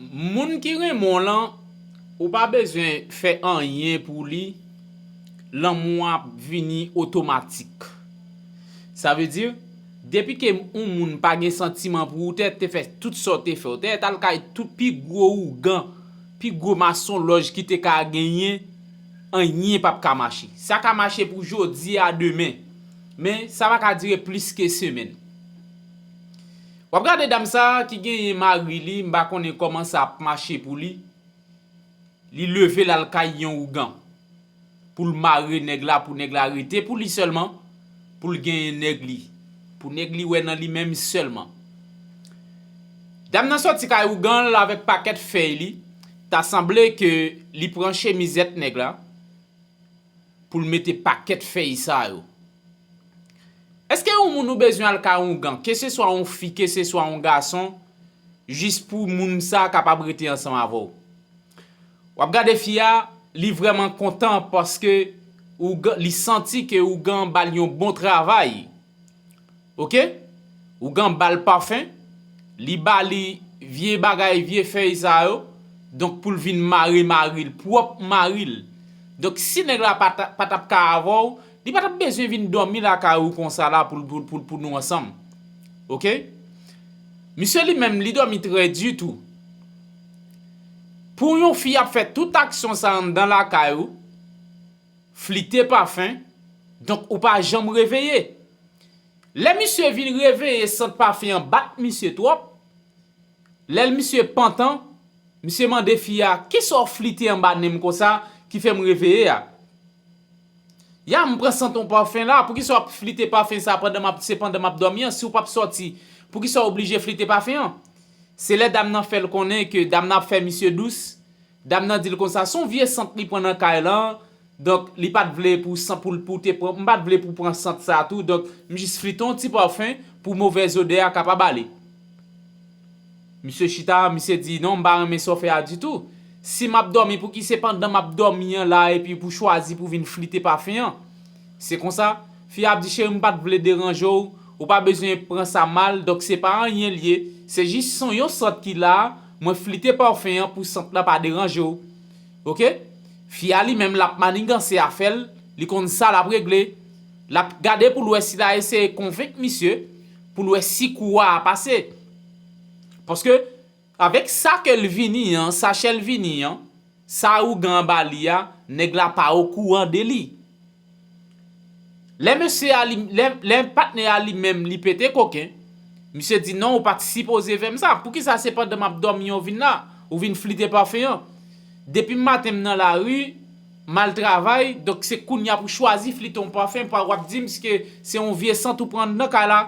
Moun ki renmen w lan ou pa bezwen fè anyen pou li lanmou an ap vini otomatik sa vle di depi ke yon moun pa gen santiman pou ou tè te fè tout sa w te fè w tè tal kay tout pi gwo ougan pi gwo masonlòj ki te ka genyen anyen pap ka mache sa ka mache pou jodi a demen men sa pa ka dire plis ke semèn. Wap gade dam sa ki genyen mari li mpa konnen koman sa ap mache pou li, li leve lal kay yon ougan poul mare nèg la pou nèg la rete pou li sèlman poul genyen nèg li pou nèg li wè nan li menm sèlman dam nan sòti kay ouganl avèk pakèt fèy li ta sanble ke li pran chemizèt nèg la. pou l mete pakèt fèy sa yo. Eske yon moun ou bezwen al ka oungan, keseswa yon fi keseswa yon gason, jis pou moun sa kapab rete ansanm avè w? W ap gade fi a, li vrèman kontan paske oungan, li santi ke oungan an ba l yon bon travay. Ok ougan bal parfum li bali vye bagay vye fèy sa yo donk poul vin mare maril pwòp maril donk si nèg la patap ka avèw li patap bezwen vin dòmi lakay ou konsa la pou nou ansanm ok misye li menm li dòmi trè di tou pou yon fi ap fè tout aksyon sa anndan lakay ou. Flite Pafen, Donk ou pa janm reveye? Lè misye vin reveye sant pafen an bat misye twòp, lè l misye pantan, misye mande fi a kisa w flite anba nen m konsa ki fè m reveye a? Ya m pran sant on pafen la, poukisa w ap flite pafen sa pandan m ap se pandan m ap dòmi an, si w p ap sòti poukisa w oblije flite pafen an? Se lè dam nan fè l konnen ke dam nan ap fè misye dous, Dam nan dil konsa son vye sant li pran nan kay lan donk li pat vle pou san poul pou te pran m pat vle pou pran sant sa tou donk m jis flite yon ti parfum pou movèz odè a kapab ale misye chita misye di non m pa renmen sa w fè a ditou si map dòmi pouki se pandan map dòmi an la epi pou chwazi pou vin flite parfum an se konsa fi a ap di cheri m pat vle deranje w ou pa bezwen pran sa mal donk se pa anyen l ye se jis son yon sant ki la Mwen flite parfum an pou sant lan pa deranje w ok Fi a li menm lap maniganse afè l li konn sa lap regle Lap gade pou l wè si la eseye konvenk misye pou l wè si kou a a pase Paske avèk sa ke l vini an sachè l vini an sa ougan an ba li a nèg la pa okouran de li. Lè mesye a li lè patnè a li menm li pete koken, misye di non ou pat sipoze fèm sa, poukisa se pandan map dòmi ou vin la, ou vin flite pafen an. Depim maten m nan lari, mal travay, donk se kounya pou chwazi flite yon pafen pa wap dim ske se yon vye sant ou pran nan kay la.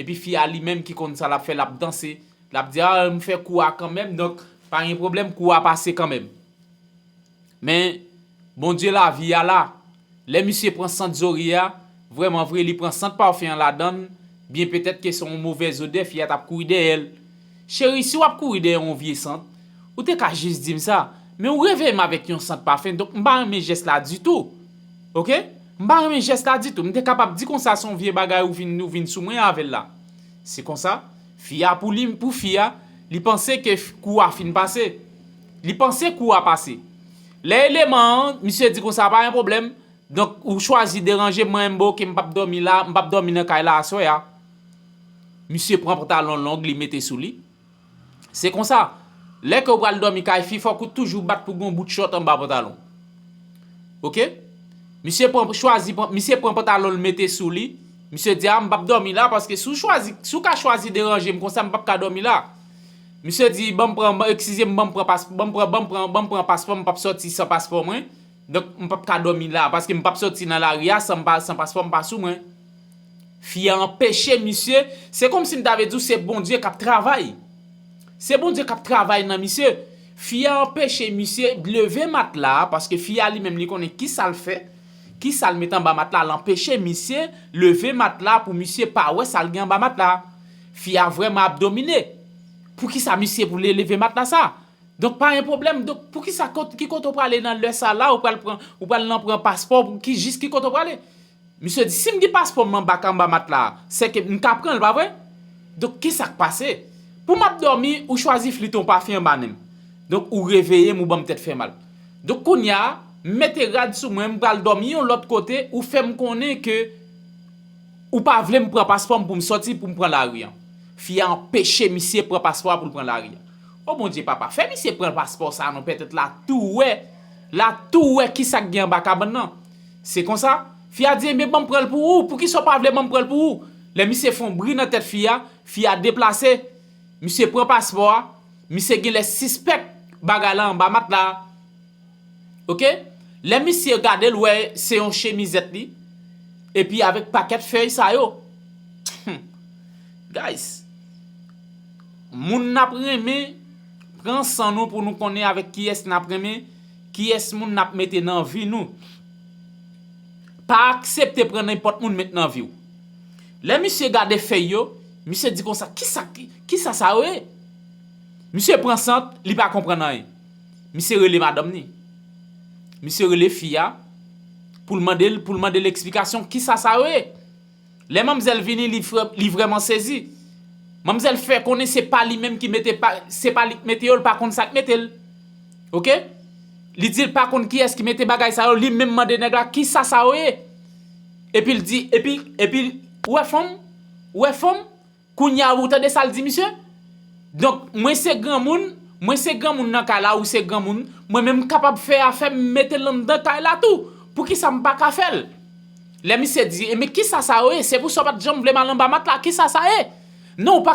Epi fi a li menm ki konn sa lap fè lap danse, lap di ah m fè kou a kanmenm donk pa gen pwoblèm kou a pase kanmenm. Men, Bondye lavi a la. Lè misye pran sant Zorie a, vrèman vre, li pran sant parfum an ladan l, byen petèt ke se yon movè zodè fi a t ap kouri dèyè l. Cheri, si w ap kouri dèyè yon vye sant, ou te ka jis di m sa. Men ou reveye m avèk yon sant parfum, donk m pa renmen jès la ditou. Ok? M pa renmen jès la ditou. M te kapab di konsa se yon vye bagay ou vin ou vin sou mwen avè l la. Se konsa, fi a pou li, pou fi a, li panse ke kou a fin pase. Li panse kou a pase. Lè eleman an, misye di konsa pa gen pwoblèm, donk ou chwazi deranje m mwen menm bon ok m pap dòmi la, m pap dòmi nan kay la aswè a. Misye pran pantalon long li mete sou li. Se konsa, lè ke ou pral dòmi kay fi fòk ou toujou bat pou gen yon bout chòt anba pantalon. Ok. Misye pran chwazi pran misye pran pantalon l mete sou li, misye di a m pap dòmi la paske si w chwazi si w ka chwazi deranje m konsa m pap ka dòmi la. Misye di banm pran eksizem banm pran pas banm pran banm pran banm pran paspòm mpap sòti san paspò mwen donk mpap ka dòmi la paske mpap sòti nan lari a san pa san paspòm pa sou mwen fi a anpeche misye se kòmsi mta vle diw se Bondye kap travay se Bondye kap travay nan misye fi a anpeche misye leve matla a paske fi a li menm li konnen kisal fè kisal met anba matla a l anpeche misye leve matla a pou misye pa wè sal gen anba matla a. Fi a vreman ap domine. Poukisa misye vle leve matla sa. Donk pa gen pwoblem donk poukisa ki kote ou prale nan lè sa la ou pral pran ou pral nan pran paspò pou ki jis ki kote ou prale. Misye di sim gen paspò m anba ka anba matla a se ke m ka pranl pa vre. Donk kisak pase. Pou map domi ou chwazi flit yon pafen anba nenm. Donk ou reveye m ou banm tèt fè mal. Donk kounya m mete rad sou mwen m pral domi yon lot kote ou fem konnen ke Ou pa vle m pran paspò m pou m sòti pou m pran lari an. Fi a anpeche misye pran paspò a pou l pran lari an. O Bondye papa, fè misye pran paspò sa a non pètèt la tou wè, la tou wè kisa k gen anba kabann nan. Se konsa, fi a di enben ban m pran l pou ou, poukisa w pa vle ban m pran l pou ou. Lè misye fè yon bri nan tèt fi a, fi a deplase, misye pran paspò a, misye genlè sispèk bagay la anba matla a. ok lè misye gadel wè se yon chemizèt li epi avèk pakèt fèy sa yo humm guys moun nap renmen pran san nou pou nou konnen avèk kiyès nap renmen kiyès moun nap mete nan vi nou pa aksepte pran nenpòt moun met nan viw lè misye gade fèy yo misye di konsa kisa sa yo ye misye pran sant li pa konprann anyen. Misye rele madanm ni. Misye rele fi a pou l mande l pou l mande l eksplikasyon kisa sa yo ye. Lè manmzèl vini li frè li vrèman sezi. Manmzèl fè konnen se pa li menm ki mete pa se pa li ki mete yo l pa konn sa k mete l. Ok. Li di l pa konn kiyès ki mete bagay sa yo li menm mande nèg la kisa sa yo ye. Epi l di epi epi ou wè fanm ou wè fanm. Kounya ou tande sal di misye? Donk mwen se granmoun, mwen se granmoun nan kay la ou se granmoun, mwen menm kapab fè afèm m metel anndan kay la tou, poukisa m paka fèl? Lè misye di, enben kisa sa yo ye? Se pou sa w pat janm vle m al anba matla, kisa sa ye? Non ou pa